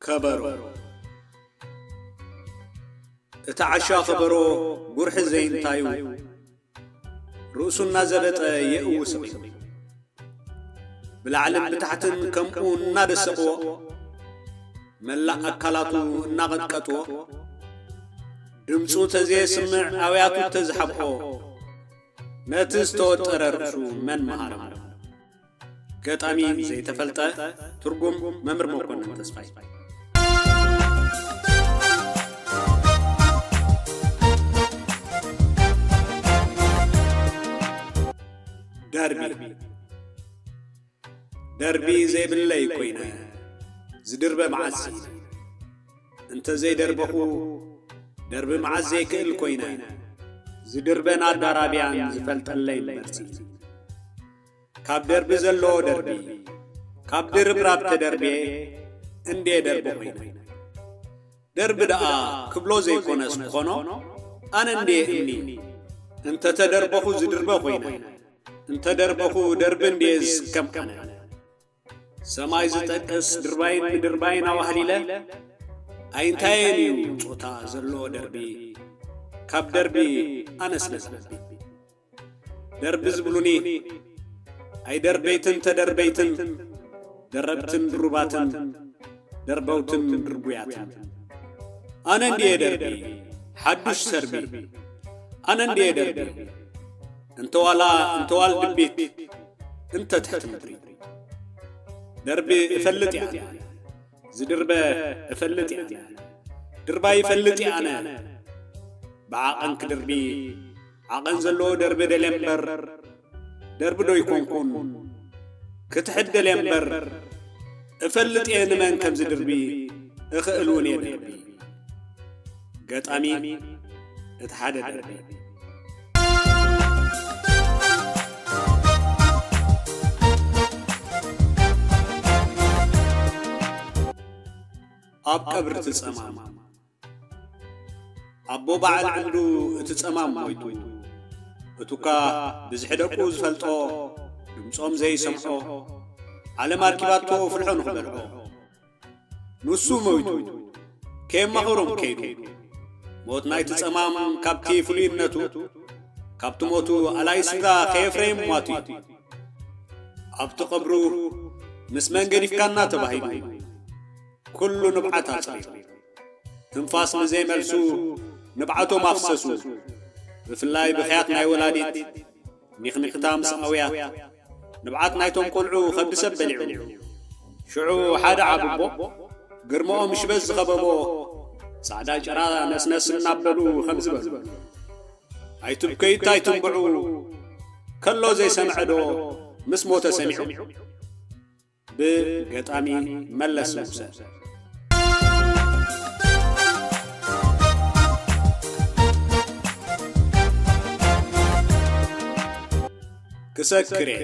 ከበሮ እቲ ዓሻ ከበሮ ጉርሒ ዘይንታዩ ርእሱ እናዘበጠ የእዊ ስቕ ኢሉ። ብላዕልን ብታሕትን ከምኡ እናደሰቕዎ መላእ ኣካላቱ እናቐጥቀጥዎ ድምፁ ተዘየስምዕ ኣውያቱ ተዝሓብኦ ነቲ ዝተወጠረ ርእሱ መን መሃረ ገጣሚ ዘይተፈልጠ ትርጉም መምህር መኮንን ተስፋይ ደርቢ ደርቢ ዘይብለይ ኮይነ ዝድርበ መዓዝ እንተ ዘይደርበኹ ደርቢ መዓዝ ዘይክእል ኮይነ ዝድርበን ኣዳራብያን ዝፈልጠለይ መርሲ ካብ ደርቢ ዘለዎ ደርቢ ካብ ድርብራብ ተደርቤ እንዴ ደርቢ ኮይነ ደርቢ ደኣ ክብሎ ዘይኮነስ ክኾኖ ኣነ እንድየ እምኒ እንተተደርበኹ ዝድርበ ኮይነ እንተደርበኹ ደርቢ እንድየ ዝስከም ኣነ ሰማይ ዝጠቅስ ድርባይን ምድርባይን ኣዋህሊለ ኣይንታየን እዩ ጾታ ዘለዎ ደርቢ ካብ ደርቢ ኣነ ስለ ዝዓቢ። ደርቢ ዝብሉኒ ኣይደርበይትን ተደርበይትን ደረብትን ድሩባትን ደርበውትን ድርቡያትን ኣነ እንድየ ደርቢ ሓዱሽ ሰርቢ ኣነ እንድየ ደርቢ እንተዋላ እንተዋል ድቢት እንተ ትሕቲ ምድሪ ደርቢ እፈልጥ እያ ዝድርበ እፈልጥ እያ ድርባይ እፈልጥ እያ ኣነ ብዓቐን ክድርቢ ዓቐን ዘለዎ ደርቢ ደልየ እምበር ደርቢ ዶ ኣይኮንኩን ክትሕት ደልየ እምበር እፈልጥ እየ ንመን ከም ዝድርቢ እኽእል እውን እየ ደርቢ ገጣሚ እቲ ሓደ ደርቢ ኣብ ቀብሪ ትጸማም ኣቦ ባዓል ዕብዱ እቲ ጸማም ሞይቱ እቱካ ብዝሒ ደቁ ዝፈልጦ ድምጾም ዘይሰምዖ ዓለም ኣርኪባቶ ፍልሖ ንክበልዖ ኑሱ ሞይቱ ከየማኸሮም ከይዱ ሞት ናይቲ ጸማም ካብቲ ፍሉይነቱ ካብቲ ሞቱ ኣላይ ስድራ ከየፍረየ ምሟቱ እዩ ኣብቲ ቀብሩ ምስ መን ገዲፍካና ተባሂሉ ኩሉ ንብዓት ኣጽሪሩ ትንፋስ ንዘይመልሱ ንብዓቶም ኣፍሰሱ ብፍላይ ብኽያት ናይ ወላዲት ኒኽኒኽታ ምስ ኣውያት ንብዓት ናይቶም ቆልዑ ከብዲ ሰብ በሊዑ ሽዑ ሓደ ዓብቦ ግርምኦም ሽበት ዝኸበቦ ጻዕዳ ጭራ ነስነስ እናበሉ ከምዚ በሉ ኣይትብከዩ እንታይ ትንብዑ ከሎ ዘይሰምዐ ዶ ምስ ሞተ ሰሚዑ ብ ገጣሚ መለስ ንጉሰ። ክሰክር'የ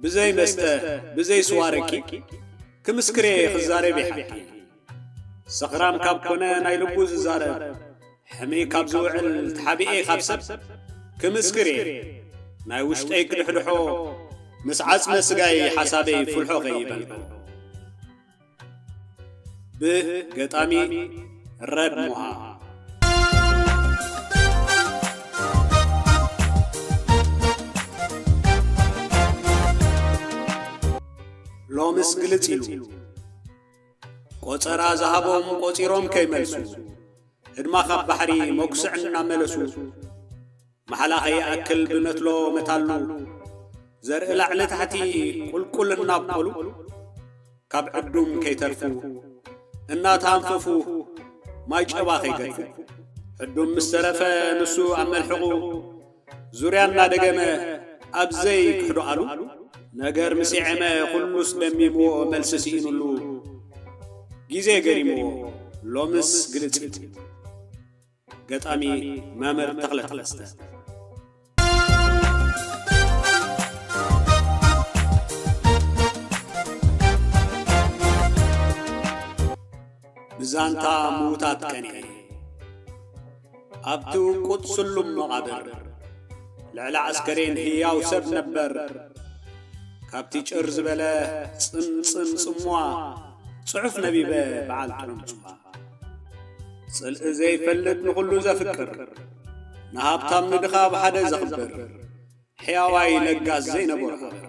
ብዘይ መስተ ብዘይ ስዋ ረቂቕ ክምስክር'የ ክዛረብ'የ ሓቂ። ሰኽራም ካብ ኮነ ናይ ልቡ ዝዛረብ ሕምይ ካብ ዝውዕል ተሓቢኤ ካብ ሰብ ክምስክር እየ ናይ ውሽጠይ ክድሕድሖ ምስ ዓጽመ ስጋይ ሓሳበይ ፍልሖ ከይበልኩ ብገጣሚ ረብ ሞሃ ሎምስ ግልጽ ኢሉ ቆጸራ ዝሃቦም ቆጺሮም ከይመልሱ፣ ህድማ ካብ ባሕሪ መጉስዕ እናመለሱ፣ ማሕላ ከይኣክል ብመትሎ መታሉ፣ ዘርኢ ላዕሊ ታሕቲ ቁልቁል እናብቆሉ፣ ካብ ዕዱም ከይተርፉ፣ እናተኣንፈፉ ማይ ጨባ ከይገድፉ፣ ዕዱም ምስ ተረፈ ንሱ ኣብ መልሕቑ፣ ዙርያ እናደገመ ኣብ ዘይክሕዶኣሉ ነገር ምስ የዔመ ኩሉስ ለሚምዎ መልሲ ስኢኑሉ ግዜ ገሪምዎ ሎምስ ግልጽልጽ ኢሉ። ገጣሚ መምር ተኽለ ተኸስተ። ብዛንታ ምዉታት ቀኒኤ። ኣብቲ ውቁጥ ስሉም መቓብር፣ ልዕሊ ኣስከሬን ህያው ሰብ ነበር፣ ካብቲ ጭር ዝበለ ጽምጽም ጽምዋ፣ ጽሑፍ ነቢበ በዓል ጥዑም-ጽምዋ። ጽልኢ ዘይፈልጥ ንኹሉ ዘፍቅር፣ ንሃብታም ንድኻ ብሓደ ዘኽብር፣ ሕያዋይ ለጋስ ዘይነበሮ ሃገር።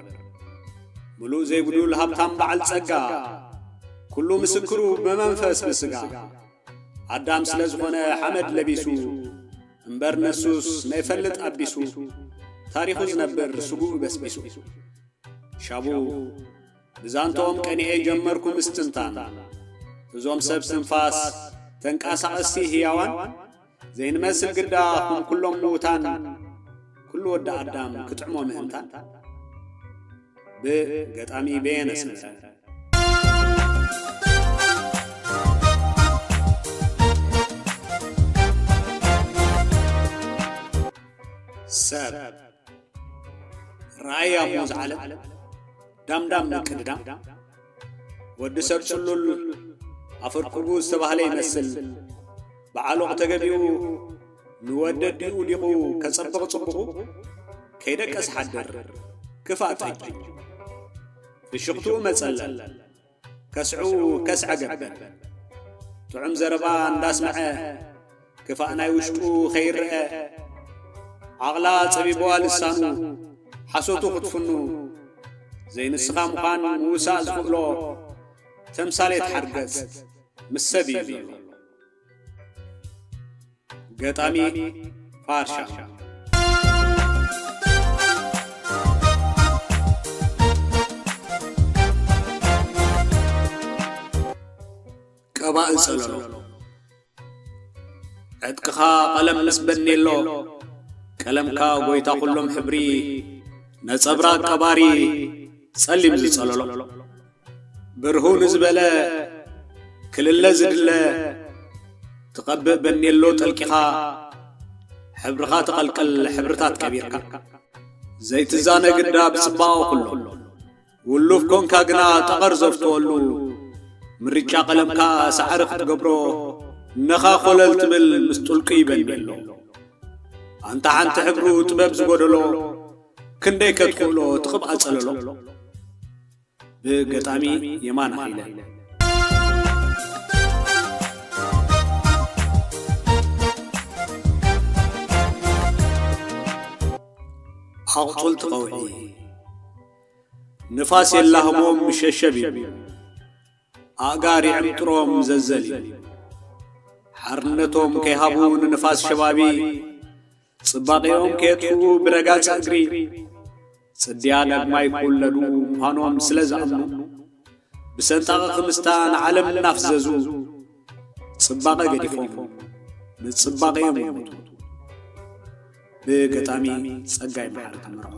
ምሉእ ዘይጉዱል ሃብታም በዓል ጸጋ። ኩሉ ምስክሩ ብመንፈስ ብስጋ። ኣዳም ስለ ዝኾነ ሓመድ ለቢሱ። እምበር ንሱስ ነይፈልጥ ኣቢሱ። ታሪኹ ዝነብር ስግኡ በስቢሱ። ሻቡ ብዛንትኦም ቀኒኤ ጀመርኩ ምስትንታን። እዞም ሰብ ትንፋስ ተንቃሳቐስቲ ህያዋን። ዘይንመስል ግዳ ኹም ኩሎም ምዉታን ኩሉ ወዲ ኣዳም ክጥዕሞ ምእንታን ብ ገጣሚ በየነ ሰመረ። ሰብ ራእይ ኣሞ ዝዓለም ዳምዳም ምቅድዳም ወዲ ሰብ ጽሉል ኣፈርኩቡ ዝተባህለ ይመስል ብዓሎቕ ተገቢኡ ንወዲ ኣዲኡ ዲቑ ከጸብቕ ጽቡቑ ከይደቀስ ሓድር ክፋእ ጠጅ ብሽኽትኡ መጸለል ከስዑ ከስዐ ገበል ጥዑም ዘረባ እንዳስምዐ ክፋእ ናይ ውሽጡ ከይረኣ ዓቕላ ጸቢቡዋ ልሳኑ ሓሶቱ ክትፍኑ ዘይንስኻ ምዃን ምውሳእ ዝኽእሎ ተምሳሌት ሓርገጽ ምስ ሰብ እዩ ዘሎ ገጣሚ ፋርሻ ቀባኢ ጸለሎ ዕጥቅኻ ቐለም ምስ በኔሎ ቀለምካ ጐይታ ዅሎም ሕብሪ ነጸብራቕ ቀባሪ ጸሊም ዝጸለሎ ብርሁ ንዝበለ ክልለ ዝድለ ትቐብእ በኔሎ ጠልቂኻ ሕብርኻ ተቐልቅል ሕብርታት ቀቢርካ ዘይትዛነ ግዳ ብጽባቐ ዅሎም ውሉፍ ኮንካ ግና ጠቐር ዘፍትወሉ ምርጫ ቀለምካ ሳዕሪ ክትገብሮ እነኻ ኮለል ትብል ምስ ጥልቁ ይበንየሎ ኣንታ ሓንቲ ሕብሩ ጥበብ ዝጎደሎ ክንደይ ከትኽእሎ ትቕብኣ ጸለሎ ብገጣሚ የማን ሃይለ ኣቕጹልቲ ቐውዒ ንፋስ የላህሞም ምሸሸብ ይብል ኣእጋር ይዕምጥሮም ዘዘል ይብል ሓርነቶም ከይሃቡ ንንፋስ ሸባቢ ጽባቄኦም ከየጥፍኡ ብረጋጽ እግሪ ጽድያ ዳግማይ ክውለዱ ምዃኖም ስለ ዝኣምኑ ብሰንጣቒ ክምስታ ንዓለም እናፍዘዙ ጽባቐ ገዲፎም ንጽባቐ'ዮም ዝሞቱ። ብገጣሚ ጸጋይ መሓሪ ተመርዖ።